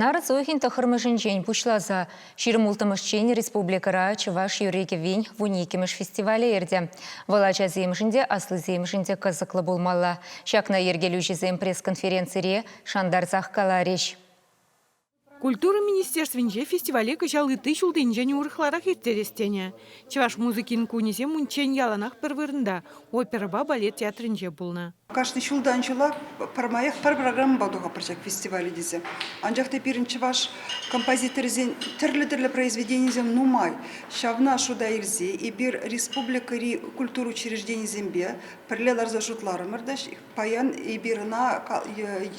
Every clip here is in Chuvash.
Нарӑс уйӑхӗн тӑххӑрмӗшӗнчен пуҫласа ҫирӗм улттӑмӗшчен республикӑра чӑваш юрри-кӗввин вун иккӗмӗш фестивалӗ иртӗ. Вӑл ачасемшӗн те, аслисемшӗн те кӑсӑклӑ пулмалла. Ҫакна йӗркелӳҫӗсем пресс-конференцире шантарсах каларӗҫ. Культура министерствинче фестивале кӑҫал ытти ҫулсенчен урӑхларах ирттерес тенӗ. Чӑваш музыкин кунӗсем унччен яланах пӗр вырӑнта, оперӑпа балет театрӗнче пулнӑ. Кашни ҫултан ҫула пӗрмаях пӗр программӑпа тухӑпӑр ҫак фестивале тесе. Анчах та пирӗн чӑваш композиторӗсен тӗрлӗ-тӗрлӗ произведенийӗсем нумай. Ҫавна шута илсе эпир республикӑри культура учрежденийӗсемпе пӗрле ларса шутларӑмӑр та паян эпир ӑна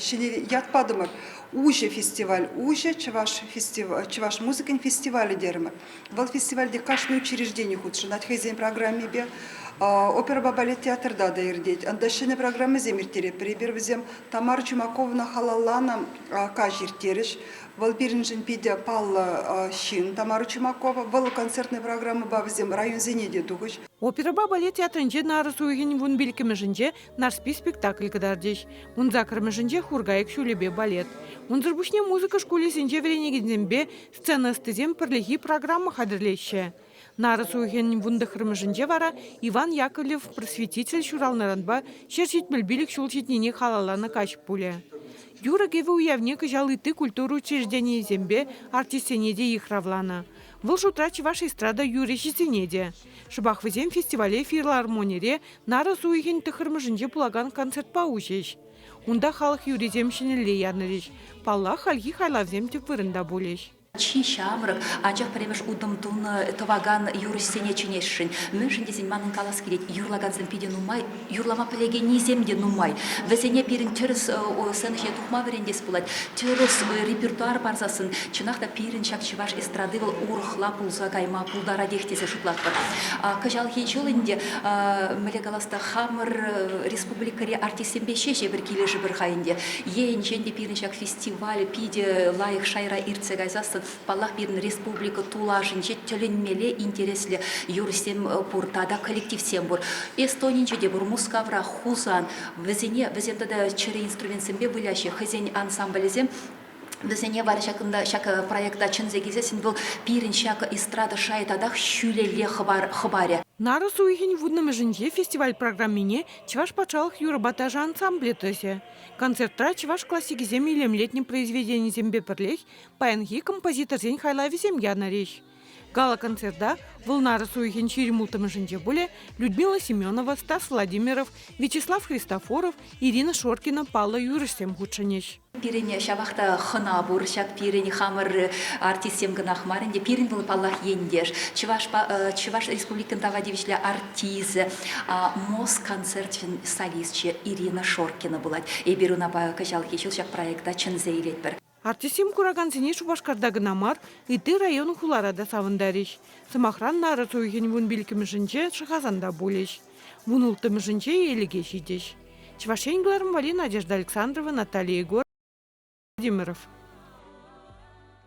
ҫӗнӗ ят патӑмӑр. Уҫӑ фестиваль, уҫӑ чӑваш фестиваль, чӑваш музыкин фестивалӗ терӗмӗр. Вӑл фестивальте кашни учреждени хутшӑнать хӑйсен программипе. Оперӑпа балет театрта та иртет. Анда ҫӗнӗ программӑсем ирттеретпӗр. Эпир вӗсем Тамара Чумакована халалланӑ каҫ ирттерӗҫ. Вӑл пирӗншӗн питӗ паллӑ ҫын Тамара Чумакова. Вӑл концертная программӑпа вӗсем районсене те тухӗҫ. Оперӑпа балет театрӗнче нарӑс уйӑхӗн вун пилӗккӗмӗшӗнче Нарспи спектакль кӑтартӗҫ. Ун саккӑрмӗшӗнче Хуркайӑк ҫулӗпе балет. Унсӑр пуҫне музыка шкулӗсенче вӗренекенсемпе Сцена ӑстисем пӗрлехи программа хатӗрлеҫҫӗ. Нарӑс уйӑхӗн вунтӑхрӑмӗшӗнче вара Иван Яковлев просветитель ҫуралнӑранпа ҫӗр ҫитмӗл пилӗк ҫул ҫитнине халалланӑ каҫ пулӗ. Юрӑ-кӗвӗ уявне кӑҫал ытти культура учрежденийӗсемпе артистсене те йыхравланӑ. Вӑл шутра чӑваш эстрада юрӑҫисене те. Шӑпах вӗсем фестивале филармонире нарӑс уйӑхӗн тӑхӑрмӗшӗнче пулакан концертпа уҫӗҫ. Унта халӑх юррисем ҫӗнӗлле ярӑнрӗҫ. Паллах, хальхи хайлавсем тӗп вырӑнта пулӗҫ. Чи ҫамрӑк, анчах пӗрремӗш утӑм тунӑ тӑвакан юрӑҫсене чӗнесшӗн. Мӗншӗн тесен манӑн калас килет, юрлакансем питӗ нумай, юрлама пӗлекеннисем те нумай. Вӗсене пирӗн тӗрӗс сценхие тухма вӗрентес пулать. Тӗрӗс репертуар парсассӑн, чӑнах та, пирӗн ҫак чӑваш эстради вӑл урӑхла пулса кайма пултаратех тесе шутлатпӑр. Кӑҫалхи ҫул ӗнтӗ, мӗнле калас та, хамӑр республикӑри Ӗҫсемпе ҫеҫ эпир килӗшӗпӗр ха ӗнтӗ. Енчен те пирӗн ҫак фестиваль питӗ лайӑх шайра иртсе кайсассӑн, паллах, пирӗн республика тулашӗнче тӗлӗнмелле интереслӗ юрӑҫсем пур тата коллективсем пур. Эстонинче те пур, Мускавра, Хусан. Вӗсене, вӗсем тата чӗрӗ инструментсемпе выляҫҫӗ хӑйсен ансамблӗсем. Вӗсене вара ҫакӑнта ҫак проекта чӗнсе килсессӗн вӑл пирӗн ҫак эстрада шайӗ татах ҫӳлелле хӑпарӗ. Нарӑс уйӑхӗн вуннӑмӗшӗнче фестиваль программине Чӑваш патшалӑх юрӑпа ташӑ ансамблӗ тӑсӗ. Концертра чӑваш классикӗсем илемлетнӗ произведенисемпе пӗрлех паянхи композиторсен хайлавӗсем янӑрӗҫ. Гала-концерта Вӑлнарӑс уйӑхӗн ҫирӗм улттӑмӗшӗнче пулӗ Людмила Семенова, Стас Владимиров, Вячеслав Христофоров, Ирина Шоркина паллӑ юрӑҫсем хутшӑнӗҫ. Пирӗн ҫавах та хӑна пур ҫак пирӗн хамӑр артистсем кӑнах мар ӗнтӗ. Пирӗн вӑл, паллах, ентеш, чӑвашпа Чӑваш Республикин тава тивӗҫлӗ артисчӗ, МОЗ концерчӗн солисчӗ Ирина Шоркина пулать. Эпир унапа кӑҫалхи ҫул ҫак проекта чӗнсе илетпӗр. Артистсем куракансене Шупашкарта кӑна мар, ытти район-хулара та савӑнтарӗҫ. Сӑмахран, нарӑс уйӑхӗн вун пиллӗкмӗшӗнче Шӑхасан та пулӗҫ. Вун улттӑмӗшӗнче елӗке ҫитӗҫ. Чӑваш Ен кӑларӑмвали Надежда Александрова, Наталья Егорова, Владимиров.